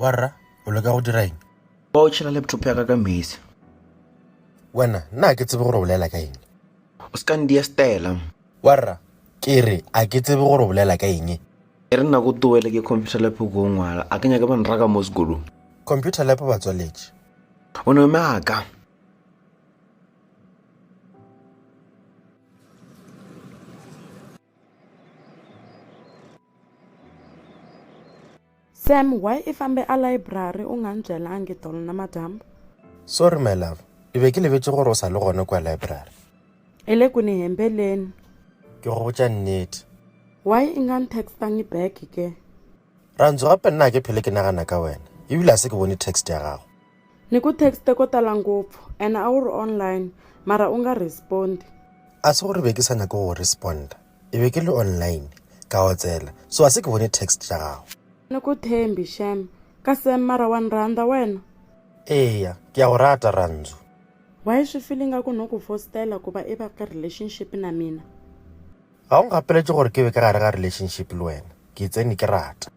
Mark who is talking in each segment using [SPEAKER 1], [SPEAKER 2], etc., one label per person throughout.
[SPEAKER 1] warra o leka go dira eng ba o tšhela
[SPEAKER 2] laptop ya ka ka mesi
[SPEAKER 1] wena nna ke tsebe gore o bolela ka eng o se ka ndia
[SPEAKER 2] stela warra
[SPEAKER 1] ke re a ke tsebe gore o bolela ka eng e re nako
[SPEAKER 2] towele ke computer lap ko ngwala a ke nyake ba nraka mo sekolong computer lap ba
[SPEAKER 1] tswaletše o ne o
[SPEAKER 2] meaka
[SPEAKER 3] Sam why i fambe a library u nga ni byelangi tolo namadyambu? Sorry my
[SPEAKER 1] love, i be ki lebetše gore u sa le gone kua library. I le ku
[SPEAKER 3] ni hembeleni. Ke go botša
[SPEAKER 1] nnete. Why i nga
[SPEAKER 3] ni textangi back ke? Rantsu,
[SPEAKER 1] gape nna ga ke phele ke nagana ka wena, ebile ga se ke bone text ya gago. Ni ku texte
[SPEAKER 3] ko tala ngopfu ene a wu ri online mara u nga respond. A se gore be
[SPEAKER 1] ke sa nyake go responda, e be ke le online ka otsela so a se ke bone text ya gago. Ni ku thembi
[SPEAKER 3] shem ka sem mara wa ni rhandza wena? Eya
[SPEAKER 1] ke ya go rata Rhandzu. Wa yi swi
[SPEAKER 3] feel ingaku no ku fostela ku va i va ka relationship na mina? Ga o
[SPEAKER 1] ngapeletše gore ke be ka gare ga relationship le wena, ke tsene ke rata.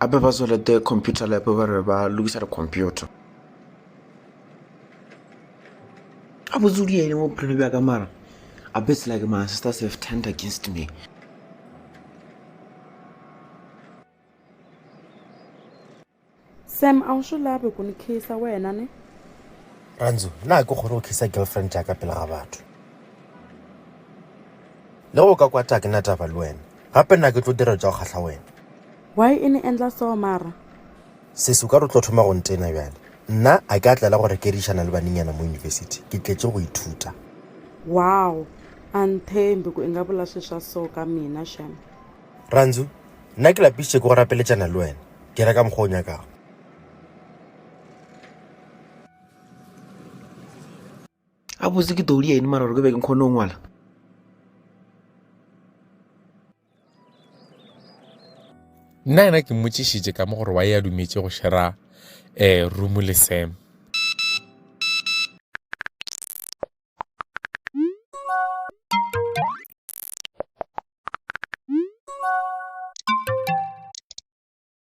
[SPEAKER 2] Gape ba tswelete computer lab ba re ba lokisa di-computer. A botse o diene mo bophelo bja ka mara a bits like my sisters have turned against me.
[SPEAKER 3] Sam, a o sho labe go ni khisa wena ne? Ranzo,
[SPEAKER 1] na ke kgone go khisa girlfriend ya ka pele ga batho? Le go ka kwata ke na taba le wena. Gape nna ke tlo dira tša go kgahla wena. Why e ne
[SPEAKER 3] endla so mara? Sesi, o ka
[SPEAKER 1] re o tlo thoma go ntena bjale? Nna a ke a tlela go rekerišana le banenyana mo university, ke tletše go ithuta. Wow!
[SPEAKER 3] A nthembi ku i nga vula swi swa so ka mina shem. Randzu,
[SPEAKER 1] Nna ke lapišitše ke go rapeletšana le wena, ke ra ka mokgwa o nyakago.
[SPEAKER 2] a botse ke todi ene mara gore ke be ke kgone go ngwala
[SPEAKER 4] nna yena ke mmotšišitše ka mo gore wa e a dumetše go shera um room le sam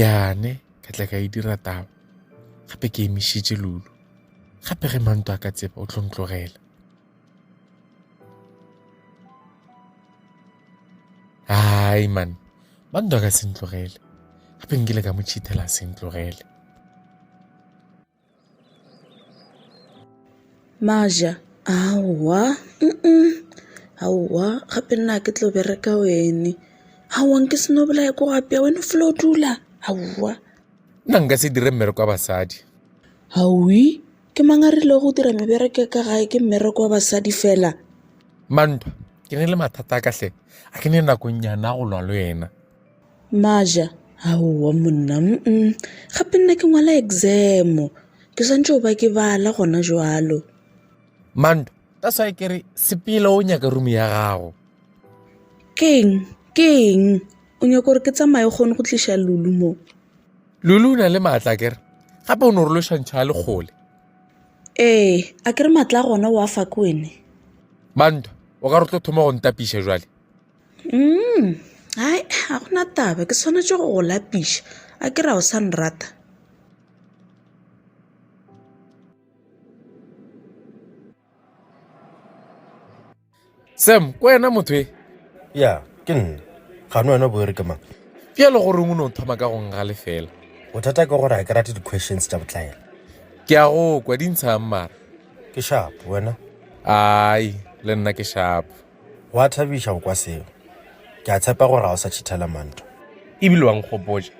[SPEAKER 4] yane ka tla ka e dira taba gape ke emišitše lulu gape ge manto a ka tseba o tlo ntlogela hai man manto a ka se ntlogele gape nkile ka mo cheatela se ntlogele
[SPEAKER 5] Maja, Aowa, uh-uh, aowa gape nna ga ke tlo bereka wene. Aowa nke se no bolaya ko go apeya, wena o felo dula, aowa. Nna nka se
[SPEAKER 4] dire mmereko wa basadi. Hawi,
[SPEAKER 5] ke mang a rile go dira mebereko ka gae ke mmereko wa basadi fela? Mantwa,
[SPEAKER 4] ke ne le mathata a ka hle, a ke ne nakong nyana go lwa le wena. Maja,
[SPEAKER 5] Aowa monna, mm-mm, gape nna ke ngwala exam, ke swantšwe go ba ke bala gona jwalo. Manto,
[SPEAKER 4] ka swae ke re sepele o nyaka room ya gago. Keng,
[SPEAKER 5] keng, o nyaka gore ke tsamaye kgone go tliša Lulu mo? Lulu
[SPEAKER 4] o na le maatla kere, gape o no re lešwantšho a le kgole. Ee,
[SPEAKER 5] a kere maatla a gona o a fa ke wene. Manto,
[SPEAKER 4] o ka re tlo thoma go ntapiša jwale? um hai
[SPEAKER 5] ga gona taba ke swanetše go go lapiša a ke ra o sa nrata
[SPEAKER 4] sam ko wena motho e ya ke
[SPEAKER 1] nna gane wena boere ke mang pjalo gore o
[SPEAKER 4] ne o thoma ka go nga lefela bothata ke gore ga
[SPEAKER 1] ke rate di-questions tša botlaela ke a go
[SPEAKER 4] kwa di ntshang mara ke
[SPEAKER 1] shapo
[SPEAKER 4] wena
[SPEAKER 1] ai
[SPEAKER 4] le nna ke
[SPEAKER 1] shapo
[SPEAKER 4] Gwa
[SPEAKER 1] thabiša go kwa seo. Ke a tshepa gore ga o sa tšhithela manto. E bile wa
[SPEAKER 4] nkgopotša.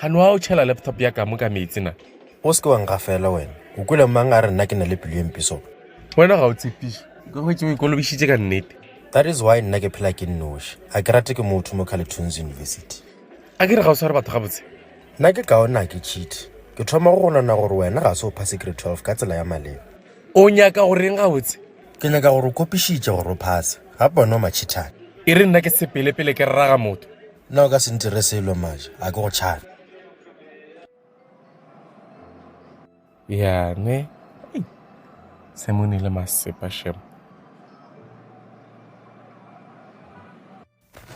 [SPEAKER 4] Gano wa o tšhela laptop ya ka mo ka meetse na? O se ke wa ngafela
[SPEAKER 1] wena. O kwele mang a re nna ke na le pelo e mpe so? Wena ga o
[SPEAKER 4] tshepiše. Ke hwetše o ikolobišitše ka nnete. That is why nna ke
[SPEAKER 1] phela ke nnoši. A ke rate ke motho mo Carleton's University. A ke re ga o sware
[SPEAKER 4] batho gabotse? Nna ke kaone a
[SPEAKER 1] ke cheat. Ke thoma go gonana gore wena ga se o phase grade 12 ka tsela ya maleba. o nyaka go
[SPEAKER 4] reng gabotse ke nyaka gore o
[SPEAKER 1] kopišitše gore o phase ga pone o matšhithane e re nna ke
[SPEAKER 4] sepelepele ke rraga motho nna o ka se ntire
[SPEAKER 1] selo maja a ke go tšhane
[SPEAKER 4] yane se mo nile masepa shemo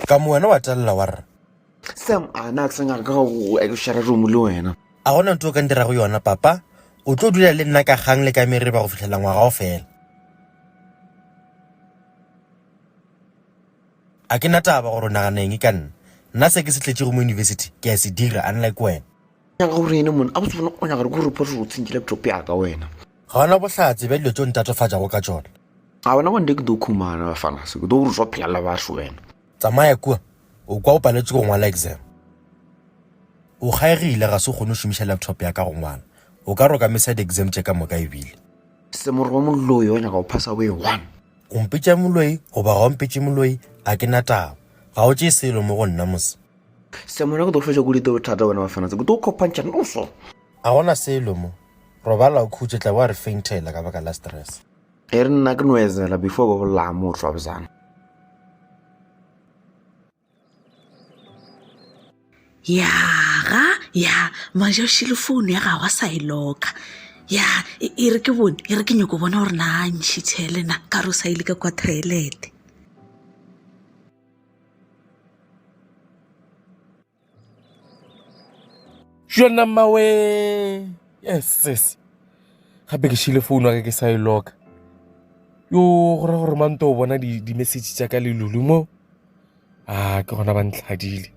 [SPEAKER 1] Ka mo wena wa telela wa re. Sam, a
[SPEAKER 2] na ke sa nyaka ka go ekešara romo le wena. A gona ntho o ka ntirago
[SPEAKER 1] yona, papa? O tlo dula le nna ka kgang le ka mereba go fihlela ngwaga o fela. A ke na taba gore o nagana eng ka nna. Nna se ke se tletšego mo university ke a se dira, unlike wena. nyaka gore ene
[SPEAKER 2] mone a botse bona o nyaka gore ko report gore o tsentše laptop yaka wena ga ona bohlatse
[SPEAKER 1] bja dilo tšeo ntatofatšago ka tšona a wena wande ke
[SPEAKER 2] do khumana bafana se ke do gore swa phela la batho wena tsamaya kua
[SPEAKER 1] o kwa o paletše go ngwala exam o kgaegile ga se o kgone go šomiša laptop ya ka go ngwala o ka roka mesa di-exam tše ka moka ebile semoro wa
[SPEAKER 2] moloi wa nyaka go phasa boe one o mpetša
[SPEAKER 1] moloi goba ga o mpetše moloi a ke na taba ga o tšee selo mo go nna mose semona ke
[SPEAKER 2] tlo fetša kudu ete bothata bona ba fanatse ke tlo kopantšha noso a gona selo
[SPEAKER 1] mo robala o khutše tla bo a re faintela ka baka la stress e re nna ke
[SPEAKER 2] noezela before ba bolaya motho wa bozana
[SPEAKER 5] ya ga ya maja o šile founu ya gago a sa e loka ya e e re ke bone e re ke nyoko bona gore na ntšhitšhe le na ka re o sa ile ka kwa toilete
[SPEAKER 4] jona mawe yes gape ke šile founu wa ka ke sa e loka yo go ra gore mante o bona di-message tša ka le lulu mo a ke gona ba ntlhadile